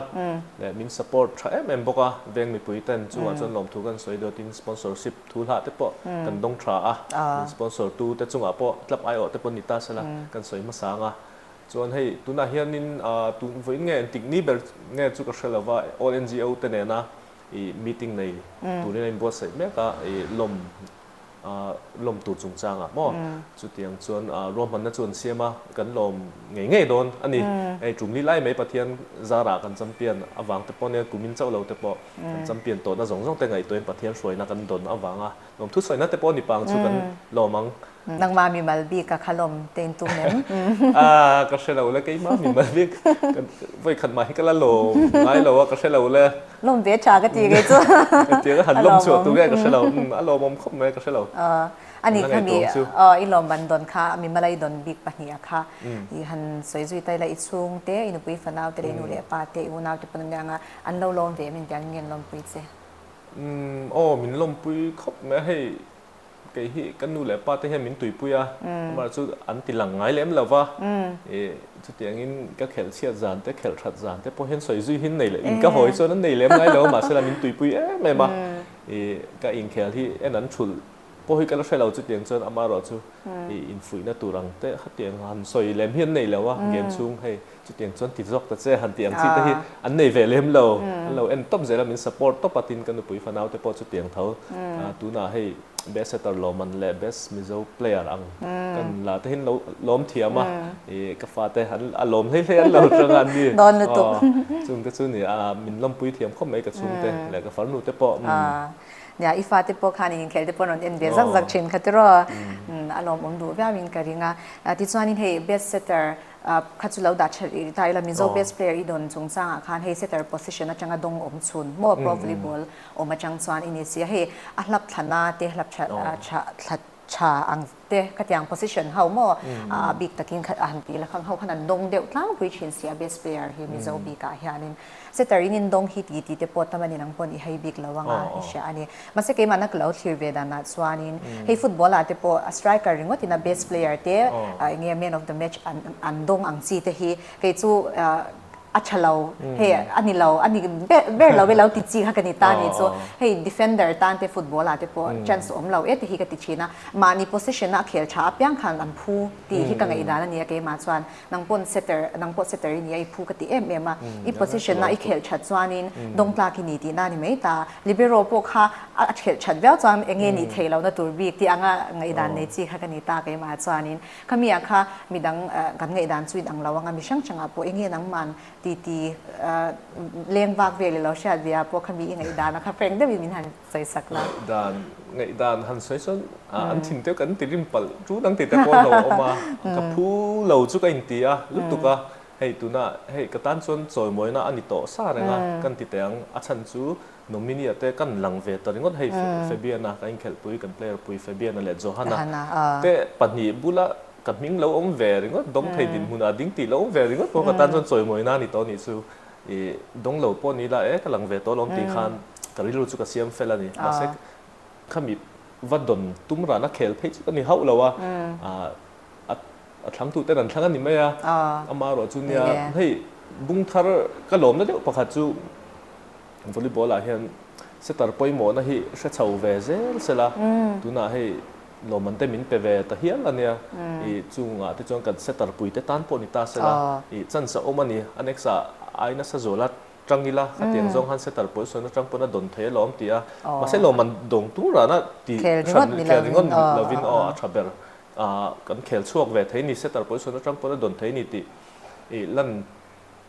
min support tha em em bawk a, veng mipui ten chungah chuan lawmthu kan sawi duh tin sponsorship thu hlah te pawh kan dawng tha a, min sponsor tu te chungah pawh tlap aiawh te pawh ni ta se la kan sawi hmasa ang a. Chuan hei tunah hianin tun vawiin nge an tikni ber nge chu ka hre lo va, all NGO te nena i meeting nei turin a inbuatsaih mek a, i lawm lawm tur chungchangah maw. Chutiang chuan ruahmanna chu an siam a, kan lawm ngei ngei dawn a ni. Hei tumli lai mai Pathian zarah kan champion avang te pawh nen kumin chauh lo te pawh kan champion tawhna zawng zawng te ngaihtuahin Pathian hruaina kan dawn avanga Lawm thu sawina te pawh ni pang chu kan lawm ang. Nangmah mimal bik a kha lawm te in tum em? Aah ka hre lo le keimah mimal bik vawikhat mah hi ka la lawm ngai lo a ka hre lo le. Lawm ve tha ka ti nge chu ka ti ang a han lawm chhuah tur nge ka hre lo a lawmawm khawp mai ka hre lo a ni kha mi aw i lawm ban dawn kha mimal i dawn bik pahnih a kha i han sawi zui ta ila i chhung te i nupui fanau te leh i nu leh pa te i unau te pawn an nia ang a an lo lawm ve em intiang nge an lawmpui che. Umm aw min lawmpui khawp mai a hei kei hi ka nu leh pa te hian min tuipui a amar chu an ti lang ngai lem lo va e chutiang in ka khelh chhiat zan te khelh that zan te pawh hian sawi zui hi an nei leh in ka hawi chuan an nei lem ngai lo mahse lam min tuipui em em a e ka inkhel hi en an thulh pawh hi ka la hre lo chutiang chuan ama erawh chu i infuihna tur ang te hetiang han sawi lem hi an nei lo a gen chhung hei Chutiang chuan ti zawk ta che han tih ang chi te hi an nei ve lem lo, an lo en tawp zel a, min support tawp a, tin ka nupui fanau te pawh chutiang tho. Tunah hei best setter lawman leh best mizo player ang ka nun la te hian lo lawm thiam a, i ka fa te an a lawm hlei hlei an lo tang a ni. Chung te chu nia, min lawmpui thiam khawp mai ka chhung te leh ka farnu te pawh. Nia i fa te pawh khan in inkhelh te pawh an rawn en ve zak zak thin kha tiraw, a lawm awm duh viau in ka ring a. Tichuan in hei best setter kha chu lo dah ṭhel rih rih ta ila Mizo Aw. best player i dawn chung changah khan hei setter position aṭanga dawng awm chhun maw pro volleyball awm aṭang chuan i ni si a, hei a hlap thlana te hlap ṭha Aw. ṭha ṭha ṭha ang te khatiang position ho maw a bik takin kha a han tih la khang ho khan an dawng deuh tlangpui ṭhin si a best player hi Mizo bikah hianin. Setter in indawng hi ti tite pawh tam anin ang pawh nih hei bik lo anga i hria a ni. Mahse keimahna ka lo thlir ve danah chuanin hei football ah te pawh a striker ringawt ina best player te eng nge man of the match an an dawng ang chi te hi kei chu a tha lo hei a ni lo a ni ber lo i lo ti chi kha ka ni ta ni chu hei defender tan te football ah te pawh chance awm lo e te hi ka ti thin a. Mahni position a a khel tha apiang khan an phu tih hi ka ngaihdan a ni a keimah chuan. Nang pawn setter, nang pawh setter i nia, i phu ka ti em em a, i position a i khelh that chuanin Dawngtlak i ni tih na a ni mai ta. Libero pawh kha a khelh that viau chuan eng nge nih theih lo na tur bik tih anga ngaihdan nei chi kha ka ni ta, keimah chuanin khami ah kha midang kan ngaihdan chu in ang lo ang a, mi hrang hrang ah pawh enge nangman titi leng vak vel i lo hriat ve ah pawh khami i ngaihdan a kha frank deuh in min han sawisakna. Ngaihdan, ngaihdan han sawi sawn a, an thin te kan ti rim palh, chu nang tihte pawh a lo awm a, ka phu lo chu ka inti a lutuk a, hei tuna hei ka tan chuan chawimawina a ni tawh sa reng a, kan ti teh ang, a chhan chu nominee a te kan lang ve ta ringawt hei Fabiana ka inkhelhpui kan player pui Fabiana leh Johanna te pahnih bula ka hming lo awm ve ringawt, Dawngthei dinhmunah ding ti lo awm ve ringawt pawh ka tan chuan chawimawina a ni tawh anih chu I dawng lo pawh ni la e, ka lang ve tawh alawm tih khan ka rilru chu ka siam fel a ni. Mahse khami va dawn tum ran a khel phei chawt a ni hauh lo a. A thlangtu ten an thlang a ni mai a, ama erawh chu nia hei bung thar ka lawmna deuh pakhat chu Volleyball ah hian setter pawimawhna hi hre chho ve zel sela tunah hei, Lawmante min pe ve ta hial a nia. I chungah te chuan kan setter pui te tan pawh ni ta sela i chance a awm a ni. A next a ai nasa zawla tang ila khatiang zawng han setter pawl sawn atang pawn a dawn thei alawm tih a. Mahse lawman dawng tur rana ti khel ni ngawt ni lovin aw a tha ber. Kan khel chhuak ve thei a ni setter pawl sawn atang pawn a dawn thei a ni tih i lan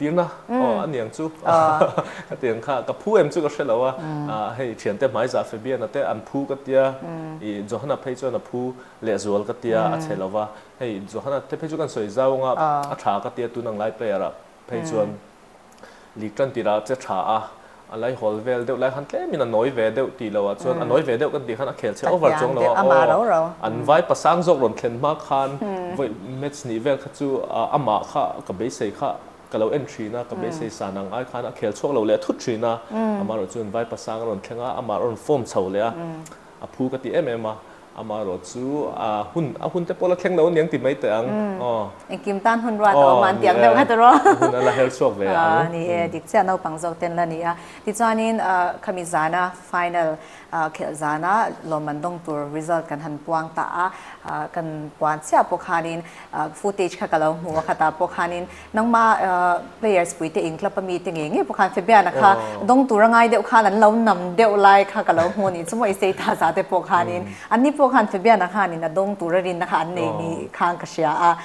Tirna? Aw, a niang chu ka ti ang kha, ka phu em chu ka hre lo a, hei thiante hmaizah Fabiana te an phu ka tia, i Johanna phei chuan a phu leh zual ka tia a che lo va, hei Johanna te phei chu kan sawi zau ang a, a tha ka tia tun ang lai prayer-ah phei chuan Lik Tantirah che tha a, A lei hawl vel deuh lai khan tlem in a nawi ve deuh tih lo ah chuan a nawi ve deuh kan tih khan a khel chhe over chuang lo a aw an vai pasang zawk rawn thlen hma khan vawi match nih vel kha chu amah kha ka beisei kha ka lo en thin a ka beisei san ang ai khan a khel chhuak lo leh a thut thin a amaherawh chu an vai pasang a rawn thleng a amah a rawn form chho leh a A phu ka ti em em a, amah erawh chu a hun a hunte pawh la thleng lo aniang ti mai teh ang aw. Engkim tan hun ruat a awm ang tih ang deuh khat rawh. A hun a la hel chhuak ve ang. A ni e, dik chiah naupang zawk ten la ni a. Tichuanin khami zana final khelh zana lawm an dawng tur result kan han puang ta a, kan puan chiah pawh khanin footage kha ka lo hmu a khatah pawh khanin Nangma players pui te in club ami te nge nge pawh khan Fabian a kha dawng tura ngai deuh khan an lo nam deuh lai kha ka lo hmu ani chu mawi sei ta za te pawh khan in an ni pawh khan Fabian a khan in a dawng tura rin na kha an nei ni khan ka hria a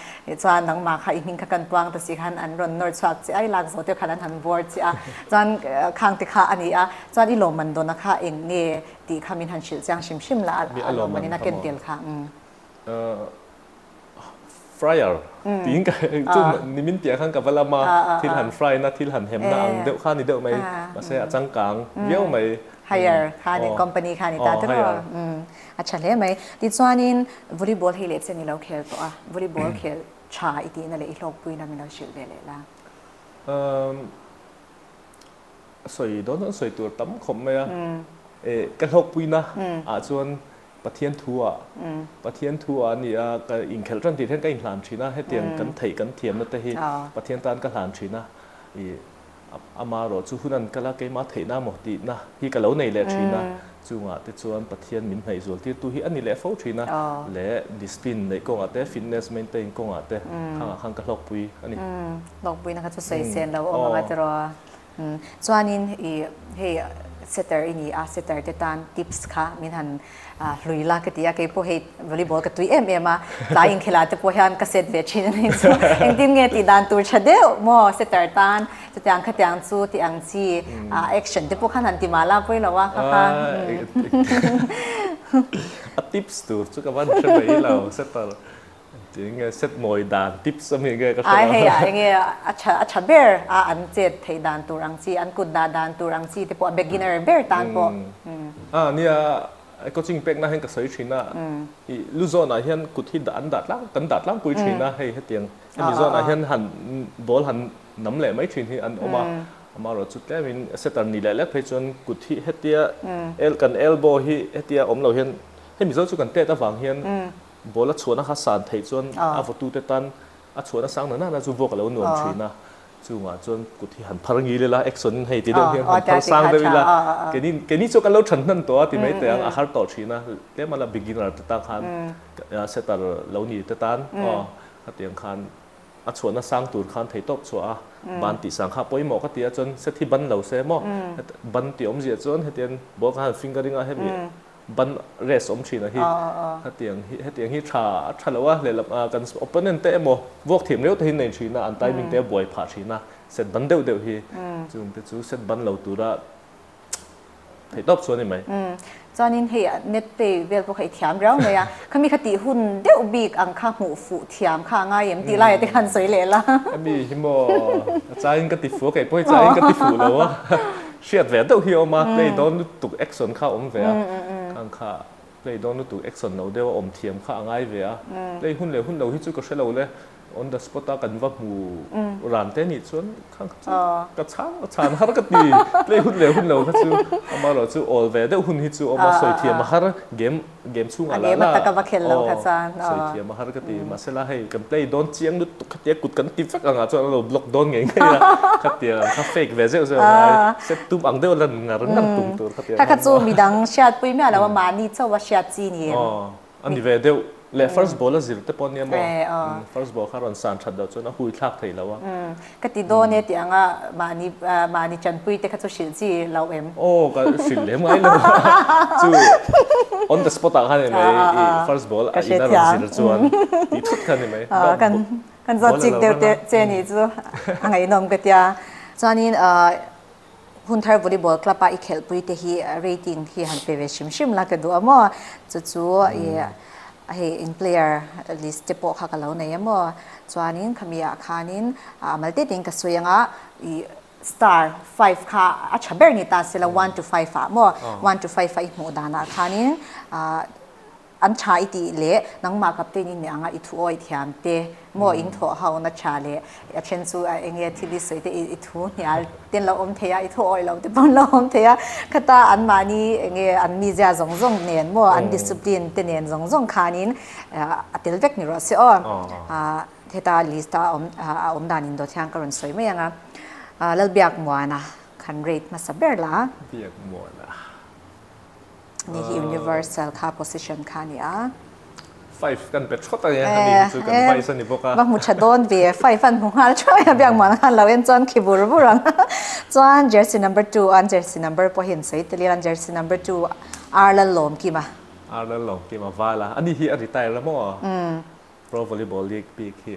chuan nangma kha i hming kha kan puang ta si khan an rawn nawr chhuak che ai lak zo te khan an han buar che a chuan khang te kha ani a chuan i lawmman dawn a kha eng nge tih kha min han hrilh chiang hrim hrim la a lawmman in a ken tel kha. Fryer tiin ka chu nimin piah khan ka va lam a, thil han fry na, thil han hem na ang deuh kha ni deuh mai, mahse a changkang viau mai. Hire kha a ni, company kha a ni ta te pawh a tha hle mai. Tichuanin volleyball hi leh chian i lo khel tawh a, volleyball khel tha i tihna leh i hlawkpui lam i lo hrilh ve leh la. Sawi dawn dawn sawi tur tam khawp mai a, ka hlawkpuina ah chuan Pathian thu a, Pathian thu a ni a, ka inkhelh tan tih hian ka inhlan thin a, hetiang kan theih kan thiamna te hi Pathian tan ka hlan thin a, i ama erawh chu hun an kal a, keimah a theihna maw tihna hi ka lo nei leh thin a, chungah te chuan Pathian min hnaihzual tirtu hi a ni leh fo thin a, leh discipline neih kawngah te, fitness maintain kawngah te khangah khan ka hlawkpui a ni. Hlawkpuina kha chu sawi chenlo awm ang a tiraw? Chuanin i hei setter i ni a, setter te tan tips kha min han hlui la ka ti a, kei pawh hei volleyball ka tui em em a, tlai inkhelha te pawh hian ka set ve thin a ni chu engtin nge tih dan tur tha deuh maw setter tan, chutiang khatiang chu tih ang chi a action te pawh khan han ti mal a pawilo a kha kha. A tips tur chu ka va hre mai lo setter. Engtin nge sepmawi dan tips a nih nge ka hre lo. Ai hei ah enge a tha a tha ber a an chet theih dan tur ang chi an kut dah dan tur ang chi te pawh a beginner ber tan pawh umm. A nia i coaching pekna hian ka sawi thin a i lu zawnah hian kut hi dah an dah tlang kan dah tlangpui thin a hei hetiang hemi zawnah hian han ball han nam leh mai thin hi an awm a amah rawh chu tlem in setter ni leh lek phei chuan kut hi hetia el kan elbow hi hetia awm lo hian hemi zo chu kan tet avang hian Ball a chhuahna kha san theih chuan a vawtute tan a chhuahna sang nana nana chu vote a lo nuam thin a, chungah chuan kut hi han phar ngil ila action in hei ti deuh hian han phar sang deuh ila keni keni chu kan lo than hnan tawh a ti mai teh ang a har tawh thin a tlem ala beginner te tan khan setter lo ni te tan aw hetiang khan a chhuahna sang tur khan thei tawp chhuah a ban tih sang kha pawimawh ka ti a chuan set hi ban lo se maw ban tih awmzia chuan hetian ball kha han fingering a hemi Ban race awm thin a hi hetiang hi hetiang hi tha a tha lo a lehlam a kan opponent te emaw vuak thiam riau takin nei thin a an timing te a buai phah thin a set ban deuh deuh hi chun te chu set ban lo tura thei tawp chuan i mai chuanin hei net play vel pawh kha i thiam riau mai a khami kha tih hun deuh bik ang kha hmuh fuh thiam kha a ngai em tih lai te khan sawi leh la mi hi maw a changin ka ti fuh a kei pawh hi changin ka ti fuh lo a. Hriat ve deuh hi a awm a, play dawn lutuk action kha a awm ve a, khang kha play dawn lutuk action lo deuh a awm thiam kha a ngai ve a, play hun leh hun lo hi chu ka hre lo le, on the spot a kan va hmu ran te nih chuan khang kha chu ka chhang a chhan har ka ti, play hun leh hun lo kha chu amaherawhchu awl ve deuh hun hi chu a awm a, sawi thiam a har game. Game chhungah la la aw sawithiam a har ka ti mahse la hei kan play dawn chiang lutuk khatia kut kan ti vek angah chuan a lo block dawn ngei ngei a khatia an kha fake ve zeuh zeuh a ngai sep tum ang deuh a lan ngar ngar tum tur khatia kha chu midang hriat pui miah loh a mahni chauh a hriat chi ni em aw a ni ve deuh leh first ball a zir te pawh nia maw first ball kha a rawn san that loh chuan a hui thlak thei lo a. Ka ti dawn e tih ang a, mahni mahni chanpui te kha chu hrilh chi lo em? Aw ka hrilh lem ngai lo a, chu on the spot ah khan ni mai i first ball a in a rawn zir chuan tih thut khan ni mai. Kan zawt chik deuh te che ni chu a ngaihnawm ka tia. Chuanin Hun Thar Volleyball Club-a i khelhpui te hi rating hi han pe ve hrim hrim la ka duh a maw? Chu chu ih hei eng player list te pawh kha ka lo nei a maw? Chuanin khami ah khanin a mal tete in ka sawi anga ih star five kha a tha ber ni ta sela one to five ah a maw? One to five a i hmuh dan ah khanin ah An tha i tih leh nangmah captain in nih anga i thu aw i thiam te maw in thawh hau na tha leh a then chu a eng e thil i sawi te i thu hnial ten lo awm thei a i thu aw i lo te pawn lo awm thei a khata an mahni eng nge an mizia zawng zawng nen maw an discipline te nen zawng zawng khan in a tel vek ni rawh se aw heta list a awm a awm dan in Dawthiang ka rawn sawi mai anga Lalbiak Muana khan rate hmasa ber la. Ni hi universal kha position kha a ni a. Five kan pe thawt a nia, a ni hi chu kan vice a ni bawk a. Va hmu tha dawn ve, five a hmu nghal theuh a, biak mahna khan lo en chuan khi vur vur ang. Chuan jersey number two an jersey number pawh hi an sawi tel a, jersey number two Ar Lal Lawmkim a. Ar Lal Lawmkim a val a, a ni hi a retire a maw? Pro Volleyball League bik hi.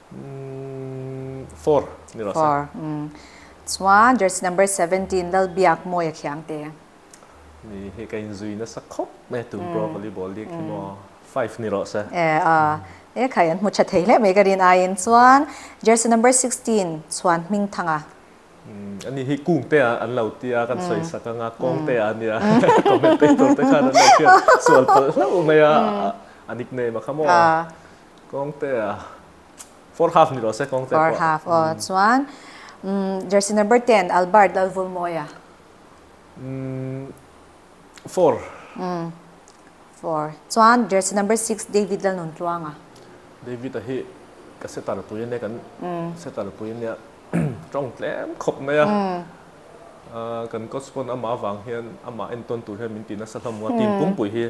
Umm four ni rawh se. Four umm chuan jersey number seventeen Lalbiak Mawi a khiang te. Ni hi ka in zui nasa khawp mai a tun pawh a volleyball dek hi maw five ni rawh se. Eh a e khai an hmu tha thei hle mai ka rin aiin chuan jersey number sixteen Chhuan Hming Thanga. Umm a ni hi kung te ah an lo ti a kan sawi sak anga kawng te ah a ni a commentator te khan an lo fian sual palh hlauh mai a a nickname a kha maw. Kawngte a, four half ni lo se Kawngte pawh. Four half aw, chuan jersey number ten Albert Lalvulmawia. Four. Four. Chuan jersey number six David Lalnuntluanga. David-a hi ka setter pui ania, kan setter pui ania, tawng tlem khawp mai a. Kan coach pawn amah vang hian amah entawn tur hian min ti nasa hlawm maw, team pumpui hi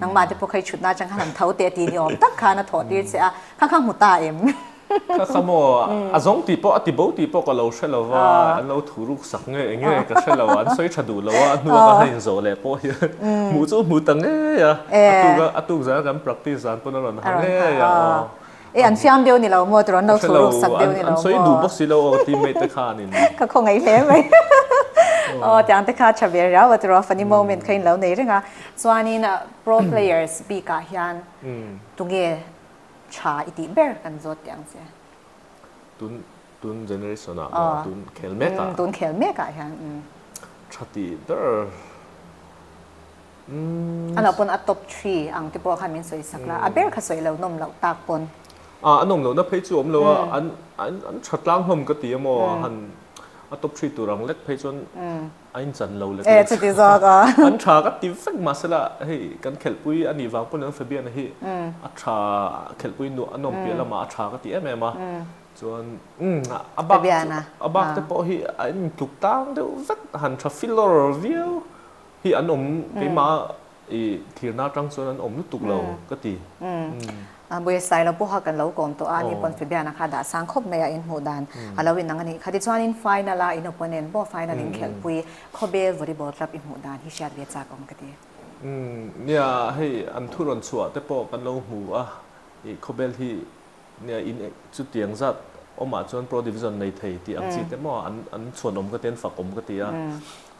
Nangmah te pawh kha i chhut na chang khan han tho teh ti ni awm tak khan a thawh tir che a, kha kha hmu ta em? Kha kha maw, a zawng tih pawh a ti bo tih pawh ka lo hre lo va, an lo thu ruk sak ngei eng nge ka hre lo, an sawi tha duh lo a, a hnuah ka hla inzawh leh pawh hian hmuh chu hmu ta ngei a, a tuk a, a tuk zan kan practice zan pawn a rawn ha ngei a aw. E an fiam deuh ni lo maw tur an lo thu ruk sak deuh ni lo maw? An sawi duh bawk si lo aw team mate te khan in. Ka khaw ngaih hle mai. Aw tiang te kha tha ber riau a tura funny moment kha in lo nei reng a. Chuan in pro players bik ah hian tunge tha i tih ber kan zawt teh ang che? Tun tun generation ah maw tun khel mek ah? Tun khel mek ah hian. Tha tih ber. A no pawn a top three ang te pawh kha min sawi sak la, a ber kha sawi lo nawm loh tak pawn. A nawm loh na phei chu a awm lo a, an an tha tlang hlawm ka ti a maw, han a top three tur ang lek phei chuan a in chan lo lek lek zawk a, an tha ka ti vek mah se la hei kan khelhpui a nih vang pawn in Fabian-a hi a tha khelhpui nuah a nawm piah lamah a tha ka ti em em a, chuan a bak te pawh hi a in tluk tlang deuh vek, han tha filawr viau. Hi an awm keimah i thlirna atang chuan an awm lutuk lo ka ti. Buaisai lo pawh kha kan lo kawm tawh a, ani pawn Fibiana kha dahsang khawp mai a inhmuh dan a lo inang a nih kha. Tichuanin final a in opponent pawh final in khelhpui khawbel volleyball club i hmuh dan hi hriat ve chak a awm ka ti. Nia hei an thurawn chhuah te pawh kan lo hmu a, i khawbel hi In chu tiang zat awmah chuan pro division nei thei tih ang chi te maw a, an chhuan awm ka ti a, an fak awm ka ti a,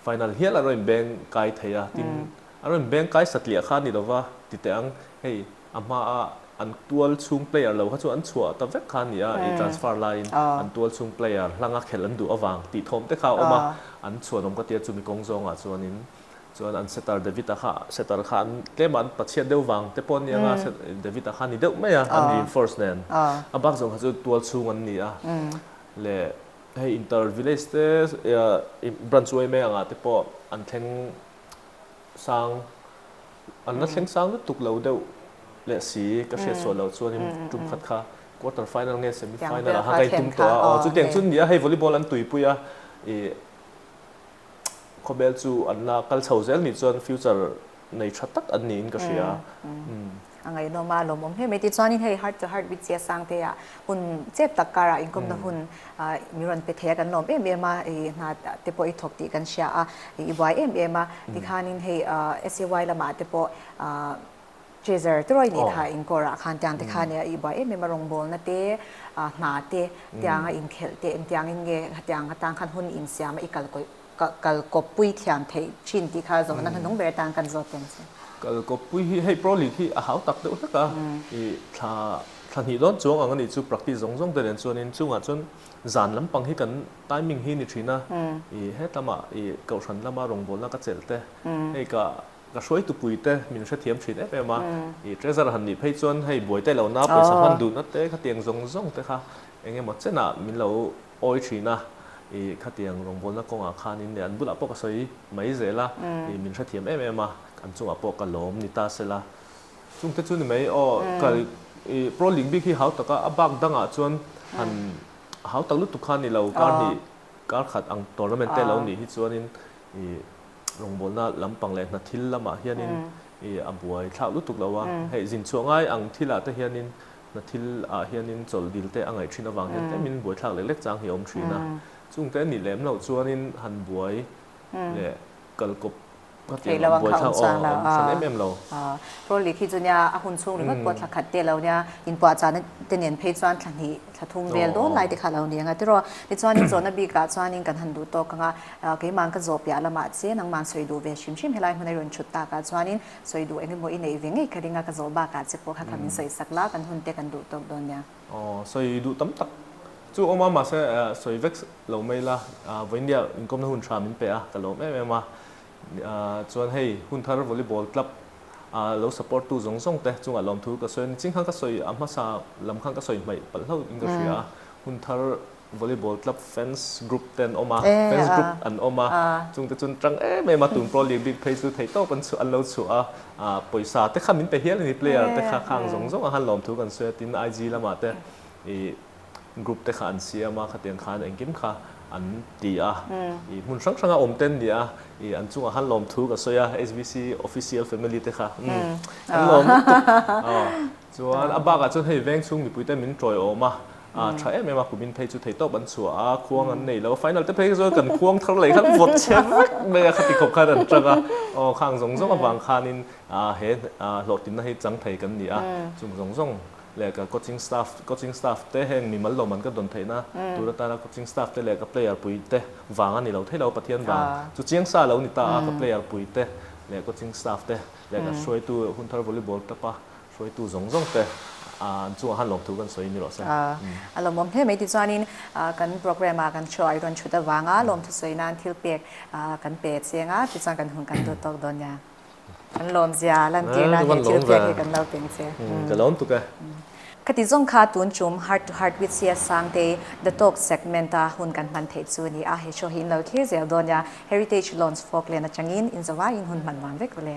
final hial a rawn in beng kai thei a, tin a rawn in beng kai satliah kha a ni lova ti teh ang, hei a hma a an tual chhung player lo kha chu an chhuah ta vek kha a ni a, i transfer laiin an tual chhung player hlanga khelh an duh avang tih thawm te kha a awm a, an chhuan awm ka ti a chumi kawng zawngah chuanin. Chuan an setter Davida kha, setter kha an tlem a, an pachiat deuh vang te pawh ni anga Davida kha ni deuh mai a, an reinforce nen. A bak zawng kha chu tual chhung an ni a. Leh hei inter village te, branch way mai angah te pawh an thleng sang, an la thleng sang lutuk lo deuh leh si ka hriat suah lo. Chuanin tum khat kha quarter final nge semi final ah kha ka intum tawh a. Aw, chutiang chu an ni a, hei volleyball an tuipui a. khawbel chu an la kal chho zel nih chuan future nei tha tak an niin ka hria. A ngaihnawm a, lawmawm hle mai. Tichuanin hei heart to heart Witchia sang te ah hun chep tak karah inkawmna hun min rawn pe thei a, kan lawm em em a, i hna te pawh i thawk tih kan hria a, i buai em em a. Tikhanin hei SAY lamah te pawh. Chaser tirawi nih kha inkawr ah khan tiang te khan a ih buai em em a, rawngbawlna te, hna te, tiang a inkhelh te engtiang in nge hetiang atan khan hun insiam a, i kal kawih kal kawp pui thiam theih thin tih kha zawhna hnung ber atan kan zawt lem se. Kal kawp pui hi hei pro league hi a hau tak deuh hlek a, i thla thla hnih dawn chuang ang a nih chu practice zawng zawng te nen chuan in chungah chuan zan lampang hi kan timing hi ni thin a, i hetlam ah i Kohhran lam a rawngbawlna ka chelh te hei ka Ka hruai tupui te min hrethiam thin em em a, i treasure han nih phei chuan hei buaite lohna pawisa hman duh na te khatiang zawng zawng te kha eng emaw chenah min lo awi thin a, i khatiang rawngbawlna kawngah khanin leh an bulah pawh ka sawi mai zel a, i min hrethiam em em a, an chungah pawh ka lawm ni ta se la. Chungte chu ni mai aw, ka i Pro League bik hi hau tak a, a bak dangah chuan han hau tak lutuk kha a ni lo, kar hnih kar khat ang tournament te lo nih hi chuanin i, rawngbawlna lampang leh hna thil lamah hianin i a buai thlak lutuk lo a. Hei zin chhuah ngai ang thilah te hianin hna thil ah hianin chawl dil te a ngaih thin avang hian tlemin buai thlak lek lek chang hi a awm thin a. Chung te a nih lem loh chuanin han buai leh kal kawp kha tih ang buai thlak aw a awm than em em lo. Trolley khi chu nia a hun chhung ringawt pawh thla khat te lo nia, in puahchahna te nen phei chuan thla hnih. Thla thum vel dawn lai te kha lo ni ang a. Tiraw, tichuanin zawhna bik ah chuanin kan han duh tawk ang a, keimang ka zawh piah lamah chian nangmah'n sawi duh ve hrim hrim helai hmun a i rawn chhut takah chuanin sawi duh eng emaw i neih ve ngei ka ring a, ka zawh bakah che pawh kha ka min sawi sak la, kan hun te kan duh tawk dawn nia. Aw, sawi duh tam tak chu a awm a, mahse sawi vek lo mai la, vawinia inkawmna hun tha min pe a, ka lawm em em a. Chuan hei Hunthar Volleyball Club a lo support tu zawng zawng te chungah lawm thu ka sawi a, ni ching khan ka sawi a hmasa lam khan ka sawi hmaih palh hlauh in ka hria a, Hunthar Volleyball Club fans group te an awm a, fans group an awm a, chung te chuan ṭang em em a, tun pro league bik phei chu thei tawp an lo chhuah a, pawisa te kha min pe hial a ni, player te kha khang zawng zawng a khan lawm thu kan sawi a, tin IG lamah te i. group te kha an siam a, khatiang khan engkim kha an ti a, i hmun hrang hranga awmte an ni a, i an chungah khan lawm thu ka sawi a, SBC official family te kha kan lawm lutuk aw, chuan a bakah chuan hei veng chhung mipuite min tawi awm a, a tha em em a kumin phei chu thei tawp an chhuah a, khuang an nei lo, final te phei sawn kan khuang thar leh khan vawt chher vek mai a, khati khawp khan an chang a, aw khang zawng zawng avang khanin he hlawhtlinna hi chang thei kan ni a, chung zawng zawng. leh ka coaching staff coaching staff te heng mi mal lo man ka dawn theih na tur a tana coaching staff te leh ka player pui te vang a ni lo thei lo Pathian vang chu chiang sa lo ni ta a ka player pui te leh coaching staff te leh ka hruaitu hun thar volleyball tap a hruaitu zawng zawng te ah an chungah han lawm thu kan sawi ni rawh se a lawmawm hle mai ti chuan in ah kan programme ah kan show ah i rawn thut avang a lawmthu sawi nan thil pek ah kan pe cheng a ti chuan kan hun kan lut tawk dawn nia. Kan lawm zia a lan tirna he thil piak hi kan lo peng che. Ka lawm tuk e. Ka ti zawng kha tun tum Heart to Heart with Sia Sangte, The Talk segment a hun kan hman thei chu a ni a, he show hi in lo thlir zel dawn nia, Heritage Lounge Folkland atangin in zo a in hun hman nuam vek rawh le.